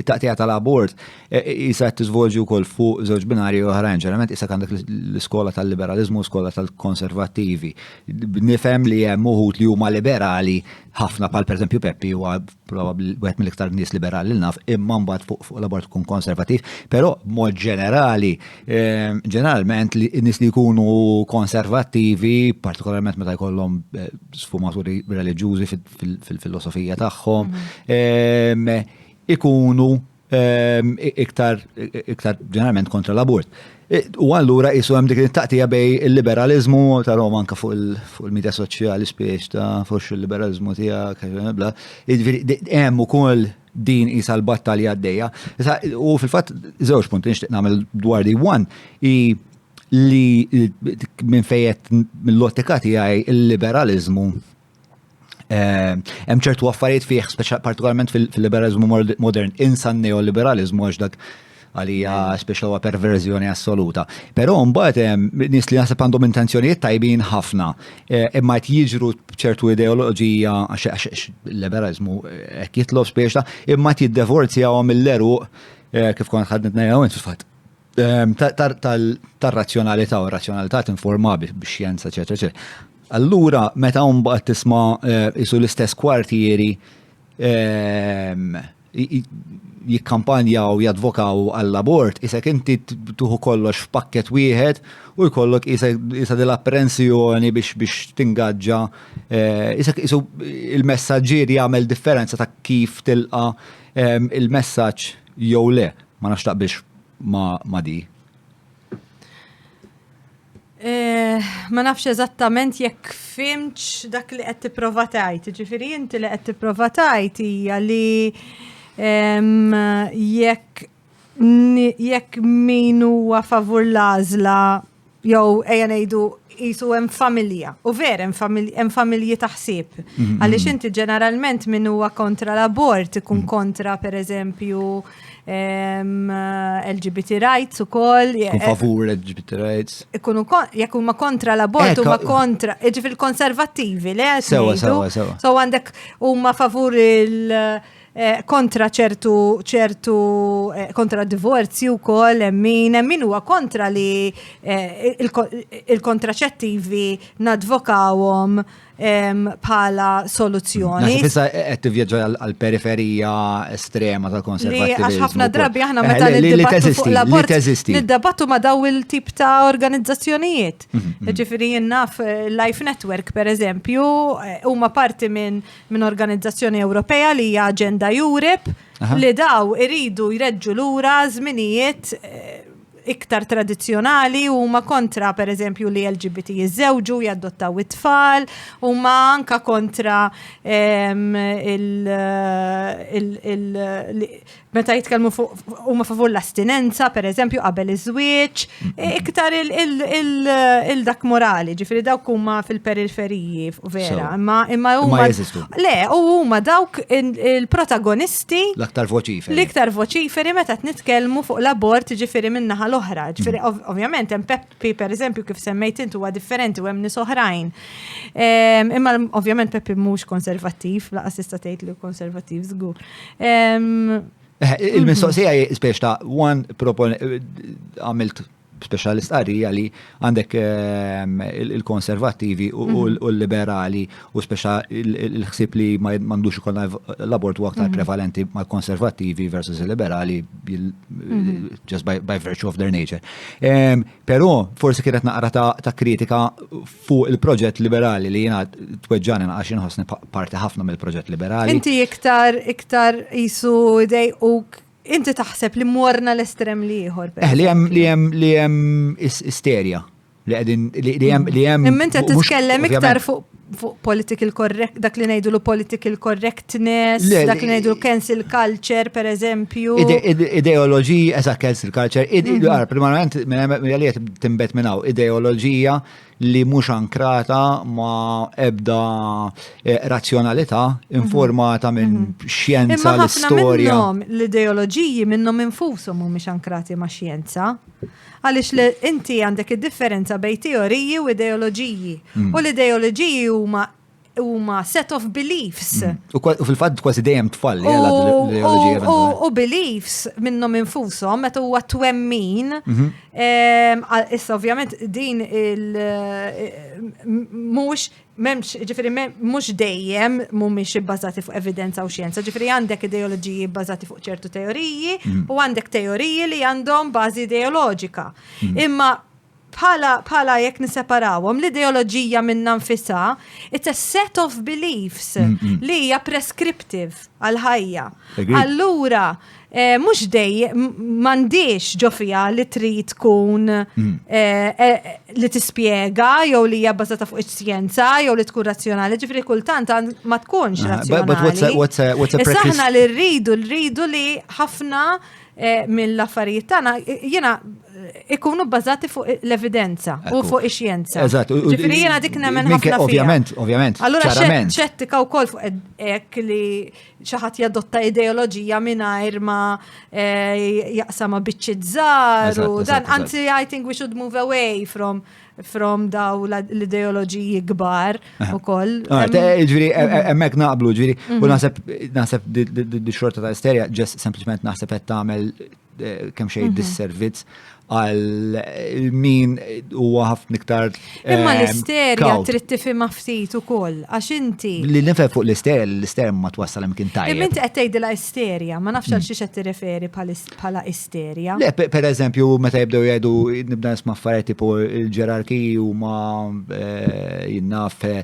it-taqtija tal-abort e, e, isa qed tiżvolġi wkoll fuq żewġ binari oħrajn, ġeneralment isa għandek l-iskola tal-liberalizmu u skola tal-konservattivi. Nifhem li hemm uħud li huma liberali ħafna pal pereżempju Peppi huwa probabbli wieħed mill-iktar nies liberali li naf, imma mbagħad fuq fuq l-abort tkun konservattiv, però mod ġenerali, e, ġeneralment li nies li jkunu konservattivi, partikolarment meta jkollhom sfumaturi reliġjużi fil-filosofija tagħhom, mhm. ikunu ehm, iktar iktar ġeneralment kontra l-abort. E, u allura jisu hemm dik it-taqtija bej il-liberalizmu ta' Roma anka fuq il-medja soċjali spiex ta' fuq il-liberalizmu tiegħek bla. Jiġifieri, hemm ukoll din isa l-battalja għaddejja. U fil-fatt żewġ punti nixtieq nagħmel dwar di one i li minn fejet mill-lottika tiegħi il-liberalizmu Eh, hemm ċertu affarijiet fih, partikolarment fil-liberalizmu modern, insan neoliberalizmu għax dak għalija speċa huwa perverżjoni assoluta. Però mbagħad eh, nies li naħseb għandhom intenzjonijiet tajbin ħafna, eh, imma qed jiġru ċertu ideoloġija għax liberalizmu hekk jitlob speċa, imma qed jiddevorzjahom mill-eruq kif kont ħadnet ngħidha fil-fatt Ehm, tar-razzjonalità u r-razzjonalità tinforma bi xjenza, eċetera, eċetera. Allura, meta mbagħad tisma' eh, isu l-istess kwartieri ehm, jikkampanja u jadvokaw għall-abort, isek inti tuħu kollox f'pakket wieħed u jkollok isa dil-apprensjoni biex biex tingaġġa. Eh, isek isu il-messagġier jagħmel differenza ta' kif tilqa ehm, il-messaġġ jew le. Ma nafx taqbilx ma' di? Eh, ma nafx eżattament jekk fimċ dak li qed tipprova tgħid. Ġifieri inti li qed tipprova tgħid hija li jekk jekk min huwa favur l-għażla jew ejja ngħidu jisu hemm familja. U ver hemm familji ta' ħsieb. Mhm. Għaliex inti ġeneralment min huwa kontra l-abort ikun mhm. kontra pereżempju ehm, LGBT rights ukoll. Eh, eh, favur LGBT rights. Ikunu jekk huma kontra l-abort huma kontra, jiġifieri il-konservattivi, le? Sewa, sewa, sewa. So għandek huma favur il- Eh, kontra ċertu ċertu eh, kontra divorzju wkoll hemm min hemm min huwa kontra li eh, il-kontraċettivi nadvokawhom bħala soluzzjoni. Fissa qed tivvjaġġa għall-periferija estrema tal-konservativizmu. Għax ħafna drabi aħna meta niddebattu niddebattu ma' daw il-tip ta' organizzazzjonijiet. Mhm, mhm. Ġifieri naf Life Network pereżempju huma parti minn minn organizzazzjoni Ewropea li hija Agenda Europe li daw iridu jreġġu lura żminijiet eh, iktar tradizzjonali u ma kontra per eżempju li LGBT jizzewġu, jaddottaw it-tfal, u ma anka kontra meta jitkellmu fuq huma favur l-astinenza, per eżempju, qabel iż-żwieġ, iktar il-dak morali, ġifiri dawk huma fil-periferiji, vera, imma imma huma. Le, u huma dawk il-protagonisti. L-aktar voċiferi. L-iktar voċiferi meta nitkellmu fuq l-abort ġifiri minnaħa l-oħra. Ġifiri, ovvjament, hemm Peppi, per eżempju, kif semmejt intu huwa differenti u hemm nies oħrajn. Ehm, imma ovvjament Peppi mhux konservattiv, laqas tista' tgħid li konservattiv żgur. Ehm, eh, il-mistoqsija mhm. spiex ta' one propon eh, għamilt speċjalist qarrija li għandek ehm, il-konservattivi u mhm. l-liberali u speċa il-ħsib li ma mandux ikun l-abort u aktar mhm. prevalenti ma' konservativi versus liberali mhm. just by, by virtue of their nature. Um, Pero forsi kienet naqra ta', ta kritika fuq il-proġett liberali li jina tweġġani għax inħossni parti ħafna mill-proġett liberali. Inti iktar iktar jisu dej u inti taħseb li morna l-estrem li ieħor. Eh, li hemm li hemm li hemm isterja Li għedin, li jem, li jem. Imma inti titkellem iktar fuq fuq political correct, dak li ngħidu political correctness, dak li ngħidu cancel culture, per eżempju. Ideoloġija, eżat cancel culture, mhm. għar, primarment, mill-għaliet timbet minnaw, ideoloġija li mhux ankrata ma ebda eh, razzjonalità mhm. informata minn mhm. xjenza l-istorja. L-ideoloġiji minnhom infushom mhumiex ankrati ma' xjenza. Għaliex li inti għandek id-differenza bejn teoriji u ideoloġiji. U l-ideoloġiji huma huma set of beliefs. U fil-fatt kważi dejjem tfal li għal l-ideoloġija. U beliefs minnhom infushom meta huwa twemmin. Issa ovvjament din il mhux Memx, ġifiri, mux dejjem mumiex ibbażati fuq evidenza u xjenza, ġifiri għandek ideoloġiji bbażati fuq ċertu teoriji mm. u għandek teoriji li għandhom bażi ideoloġika. Mm. Imma bħala bħala jekk niseparawhom l-ideoloġija minna nfisha it's a set of beliefs mm, li hija prescriptive għal ħajja. Allura Eh, mux dej, mandiċ ġofija li trid tkun mm. eh, eh, li tispiega jew li hija bbażata fuq iċ-xjenza jew li tkun razzjonali, ġifri kultant ma tkunx ah, razzjonali. Saħna li rridu, rridu li ħafna mill-affarijiet tagħna jiena ikunu bbażati fuq l-evidenza u fuq ix-xjenza. Eżatt. Ġifri jiena dik nemmen ħafna. Ovvjament, ovvjament. Allura ċettika wkoll fuq hekk li xi ħadd jadotta ideoloġija mingħajr ma eh, jaqsam ma' biċċiet żgħar u dan anzi I think we should move away from from daw l-ideoloġiji kbar u koll. Ah, ġviri, e- e- emmek naqblu, ġviri, u mhm. naħseb, naħseb di xorta ta' isterja, ġess sempliciment naħseb għed tamel kemm xejn mhm. dis-servizz għal min huwa ħafna iktar. Imma eh, l-isterja trid tifhimha ftit ukoll għax inti. Li nifhem fuq l-isterja, l-isterja ma twassal hemm kien tajjeb. Imma inti qed tgħidilha isterja, ma nafx għal mm. xi qed tirreferi bħala isterja. Le, per eżempju, meta jibdew jgħidu nibda nisma' affarijiet tipo l-ġerarkiji huma eh, jinnaf eh,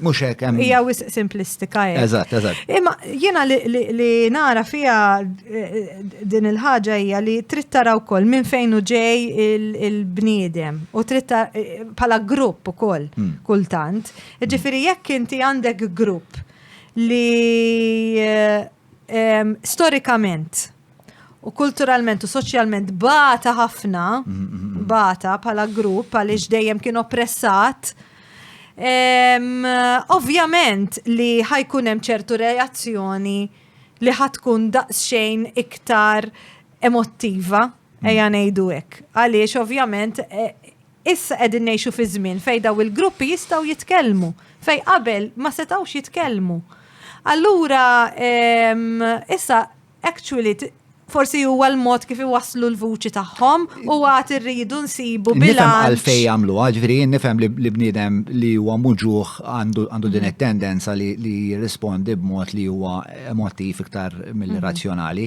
Mux hekk hemm. Hija wisq simplistika hekk. Eżatt, eżatt. Imma jiena li nara fiha eh, din il-ħaġa hija li trid tara wkoll minn fejn hu ġej il-bniedem u trid eh, bħala grupp ukoll hmm. kultant. Ġifieri jekk inti għandek grupp li eh, storikament u kulturalment u soċjalment bata ħafna, bata bħala grupp għaliex dejjem kien oppressat. Ovvjament li ħajkun hemm ċertu reazzjoni li ħatkun daqsxejn iktar emottiva, eja ngħidu hekk. Għaliex ovvjament e, Issa qegħdin ngħixu fi żmien fejn dawn il-gruppi jistgħu jitkellmu, fejn qabel ma setgħux jitkellmu. Allura issa actually forsi huwa l-mod kif iwasslu l-vuċi tagħhom u għad irridu nsibu bilanċ. Nifhem għalfej jagħmlu, ġifieri nifhem li bniedem li huwa muġuħ għandu din it-tendenza li jirrispondi b'mod li huwa emotiv iktar mill-razzjonali.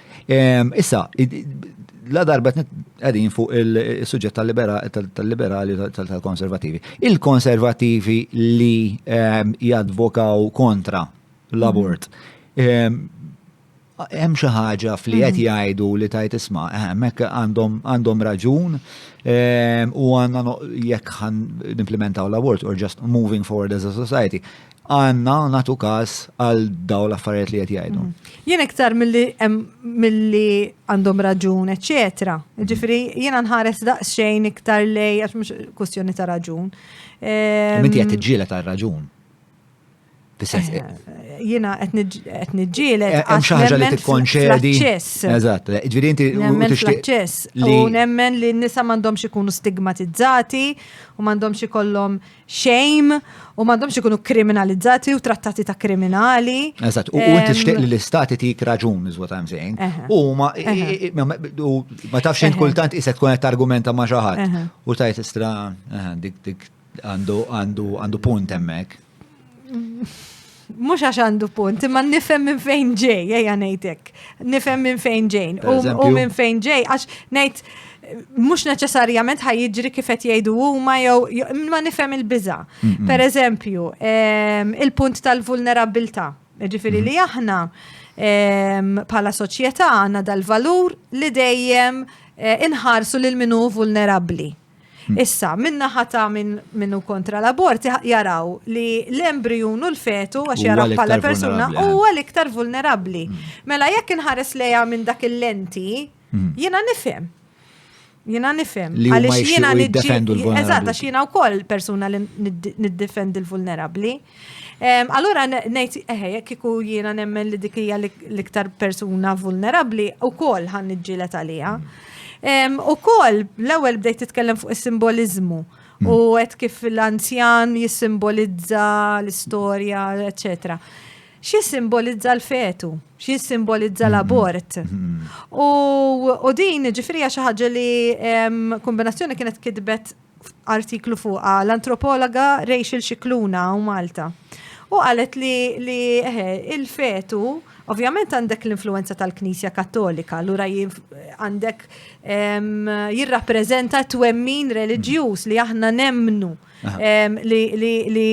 Issa, la darba għedin fuq il-sujġet tal-liberali tal-konservativi. Il-konservativi li ehm, jadvokaw kontra l-abort. Ehm, hemm xi ħaġa fli qed mhm. jgħidu li tajt isma' ehm, hekk għandhom raġun u għandna jekk ħan nimplementaw l-abort or just moving forward as a society. għanna natu kas għal daw l-affarijiet li qed jgħidu. Mhm. Jien iktar milli għandhom raġun, eċetera. Mhm. Ġifieri jiena nħares daqsxejn iktar lej għax mhux kwestjoni ta' raġun. Minti qed tiġġieled għal raġun. Eh, jiena qed niġġieled eh, għax ħaġa li tikkonċedi. Eżatt, eh, ġifieri inti nemmen fl-aċċess u nemmen li n-nisa m'għandhomx ikunu stigmatizzati u m'għandhomx ikollhom xejn u m'għandhomx ikunu kriminalizzati u trattati ta' kriminali. Eżatt, u inti xtieq li l-istati tik raġun is what I'm saying. U ma ma tafx int kultant isek tkun qed argumenta ma' xi ħadd u tajt istra dik dik għandu għandu għandu punt hemmhekk. mux għax għandu punt, imma nifem minn fejn ġej, eja nejtek. Nifem minn fejn ġejn. U minn fejn ġej, għax nejt, mux neċessarjament ħaj jiġri kifet jgħidu u ma jew, ma nifem il-biza. Per eżempju, ehm, il-punt tal-vulnerabilta. Ġifiri li mm-hmm. aħna, ehm, pala soċieta għanna dal-valur li dejjem eh, inħarsu lil minu vulnerabli. Issa, minna ħata minn min hu kontra l-abort jaraw li l-embrijun u l-fetu għax Huwa jaraw bħala l-iktar persuna vulnerabbli, eh. huwa l-iktar vulnerabbli. Mela jekk inħares lejha minn dak il-lenti, jiena nifhem. Jiena nifhem. Li huma Għaliex jiena jixtiequ niġġi- jiddefendu l-vulnerabbli. Eżatt, għax jiena wkoll persuna li nid- niddefendi l-vulnerabbli. Allura ngħid eħe jekk iku jiena nemmen li dik hija l-iktar persuna vulnerabbli ukoll ħan niġġielet għaliha. Ukoll l-ewwel bdejt titkellem fuq is-simboliżmu u qed kif l-anzjan jissimbolizza l-istorja, eċċetera xie simbolizza l-fetu, xie simbolizza mm-hmm. l-abort. Mm-hmm. U din ġifrija xaħġa li kombinazzjoni kienet kidbet artiklu fuqa l-antropologa Rachel Xikluna u Malta. U qalet li, li il-fetu, ovvjament għandek l-influenza tal-Knisja Kattolika, l-ura għandek jirrapprezenta twemmin reliġjuż li aħna nemnu li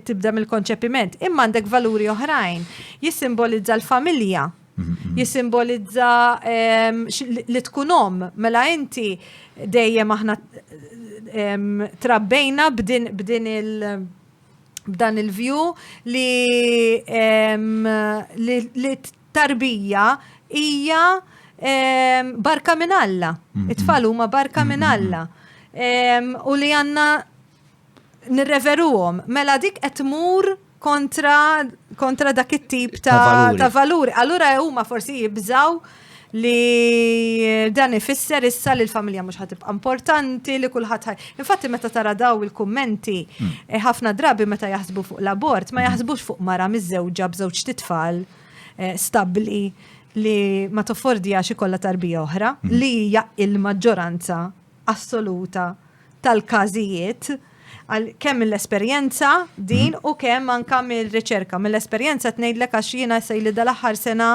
tibda mill-konċepiment. Imma għandek valuri oħrajn, jissimbolizza l-familja, Jisimbolizza ehm, li tkun om, mela inti dejjem aħna ehm, trabbejna b'din b'din il- b'dan il-vju li ehm, li, li tarbija hija ehm, barka minn Alla. It-tfal huma barka minn Alla. Ehm, u li għanna nirreveruhom, mela dik qed tmur kontra, kontra dak it-tip ta', valuri. ta valuri. Allura huma forsi jibżaw li dan ifisser issa li l-familja mhux ħatibqa' importanti li kulħadd ħaj. Infatti meta tara daw il-kummenti hmm. eh, ħafna drabi meta jaħsbu fuq l-abort ma hmm. jaħsbux fuq mara miżewġa b'żewġ titfal eh, stabbli li ma toffordija xi kollha tarbija oħra hmm. li hija il-maġġoranza assoluta tal-każijiet kemm mill-esperjenza din u kemm anka mill-riċerka. Mill-esperjenza tnejdlek għax jiena sejli dal-aħħar sena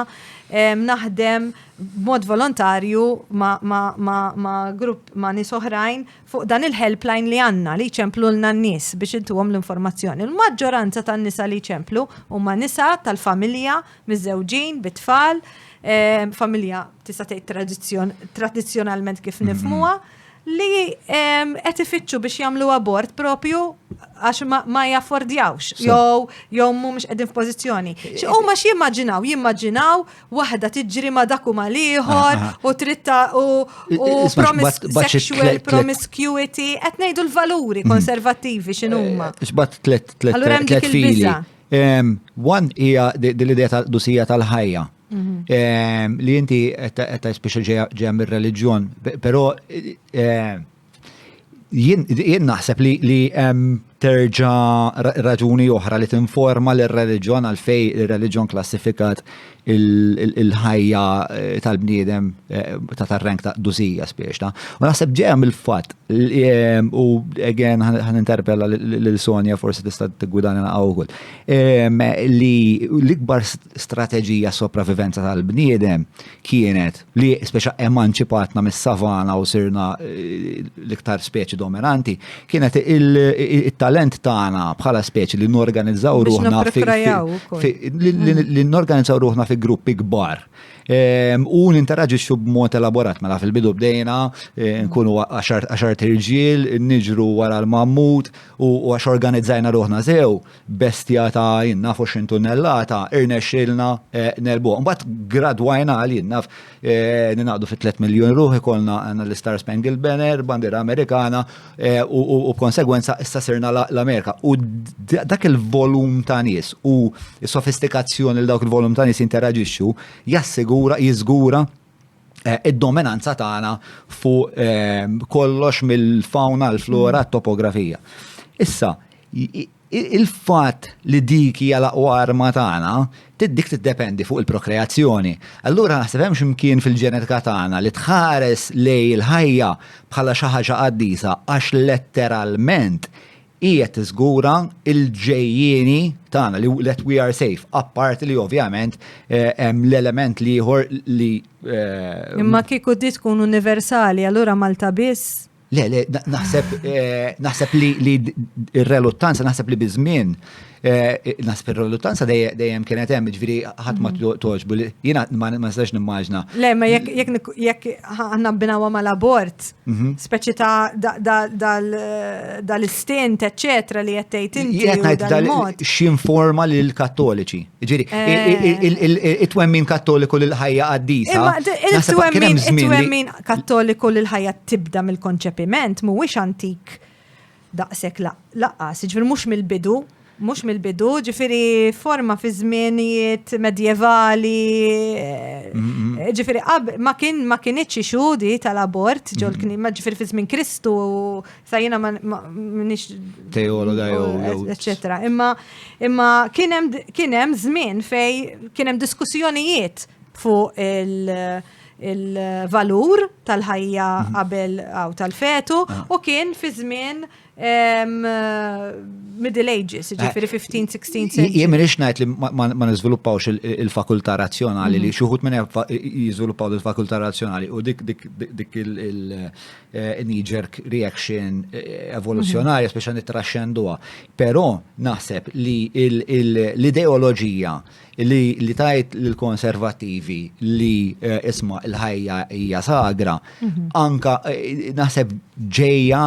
naħdem b'mod volontarju ma' grupp ma' nies oħrajn fuq dan il-helpline li għandna li jċemplulna n-nies biex intuhom l-informazzjoni. Il-maġġoranza tan-nisa li jċemplu huma nisa tal-familja miżżewġin, bi tfal, familja tista' tgħid tradizzjonalment kif nifmuha, li qed ifittxu biex jagħmlu abort propju għax ma jaffordjawx jew jew mhumiex qegħdin f'pożizzjoni. Huma xi jimmaġinaw, jimmaġinaw waħda tiġri ma dak u mal ieħor ah, ah. u tritta u sexual promiscuity qed ngħidu l-valuri mm. konservattivi x'inhuma. Eh, x'bad tliet tliet tliet fili. One hija l-idea tal-qdusija tal-ħajja mhm. li inti qed speċi ġejja mir-reliġjon, però jien naħseb li hemm terġa' raġuni oħra li tinforma l-reliġjon għalfej ir-reliġjon klassifikat il-ħajja eh, tal-bniedem eh, ta' tar-rank ta' duzija spiex ta' u naħseb ġeja mill-fatt eh, u again ħan interpella lil Sonja forsi tista' tigwidana na' wkoll li l-ikbar strateġija sopravivenza tal-bniedem kienet li speċa emanċipatna mis-savana u sirna eh, l-iktar speċi dominanti, kienet il-talent tagħna bħala speċi li norganizzaw ruħna li norganizzaw ruħna fi gruppi kbar. Ehm, u ninteraġixxu b'mod elaborat mela fil-bidu bdejna eh, nkunu għaxar tirġiel, niġru wara l-mammut u għax organizzajna ruħna sew bestja ta' jien naf 20 tunnellata, irnexxielna negħlbuha. Mbagħad gradwajna għal jien naf ninaqdu fi 3 miljun ruħ ikollna għandna l-Star Spangled Banner, bandiera Amerikana u b'konsegwenza issa sirna l-Amerika. U dak il-volum ta' nies u s-sofistikazzjoni li dawk il-volum ta' nies jinteraġixxu jassigura, jiżgura Eh, id-dominanza tagħna fuq eh, kollox mill-fauna, l-flora, mm. topografija. Issa, il-fat li dik hija laqwa arma tagħna, tiddik tiddependi fuq il-prokreazzjoni. Allura naħseb hemm x'imkien fil-ġenetika tagħna li tħares lej il-ħajja bħala xi ħaġa qaddisa għax letteralment hi qed tiżgura l-ġejjieni tagħna li let we are safe, apparti li ovvjament eh, hemm l-element li ieħor li. Eh, Imma kieku di tkun universali, allura Malta biss? Le, le, naħseb eh, naħseb li r-reluttanza naħseb li biżmien Eh, Nasib il-reluttanza dejjem kienet hemm, ġviri ħadd ma mhm. toġbu. Jiena ma nistax nimmaġna. Le, ma jekk għandna binawa mal-abort, mhm. speċi ta' dal-istint, eċċetra li qed tgħid inti. Jekk ngħid x'informa lil kattoliċi. Ġiri, eh. it-twemmin kattoliku lil ħajja qaddisa. Il-twemmin kattoliku lil ħajja tibda mill-konċepiment mhuwiex antik daqshekk lanqas, jiġifieri mhux mill-bidu, mhux mill-bidu, jiġifieri forma fi żmienijiet medjevali, jiġifieri ma kien ma kinitx issue di tal-abort ġol-knisja, jiġifieri fi żmien Kristu sa jiena m'iniex teologa jew eċċetera. Imma imma kien hemm żmien fejn kien hemm diskussjonijiet fuq il- il-valur tal-ħajja mhm. qabel għaw tal-fetu ah. u kien fi żmien middle ages, eh, ġifiri 15, 16 century. Jien minix najt li ma nizviluppawx il-fakulta razzjonali li mhm. xuħut minn jizviluppaw il-fakulta razzjonali u dik dik il-knee-jerk eh, reaction eh, evoluzjonarja, mhm. speċa nitraxxenduha. Però naħseb li l-ideoloġija li, li tajt l-konservativi li eh, isma il-ħajja hija sagra, mhm. anka eh, naħseb ġeja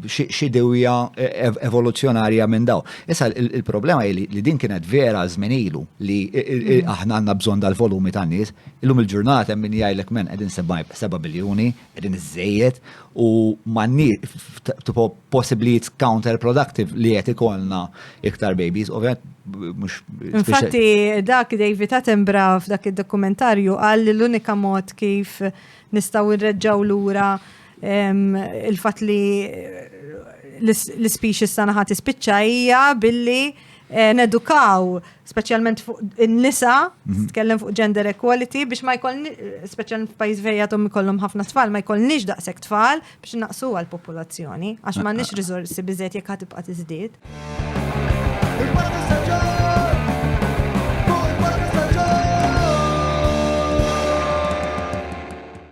xidewja eh, evoluzzjonarja minn daw. Issa il-problema li, li din kienet vera zminilu li mhm. aħna għanna bżon dal-volumi ta' nies, illum il-ġurnata minn jgħajlek men qegħdin 7 biljuni, Qegħdin iżżejjed u m'għandniex tipo possiblijiet counterproductive li qed ikollna iktar babies, ovvjament mhux. Infatti dak David Attenborough f'dak id-dokumentarju qal li l-unika mod kif nistgħu nreġġgħu lura il-fatt li l-species tagħna ħadd ispiċċa hija billi Eh, nedukaw, specialment fuq in-nisa, mhm. tkellem fuq gender equality, biex ma jkoll, specialment f'pajjiż fejn għadhom ikollhom ħafna tfal, ma jkollniex daqshekk tfal biex naqsu għall-popolazzjoni, għax ma nix riżorsi biżejjed jekk ħatibqa' tiżdied.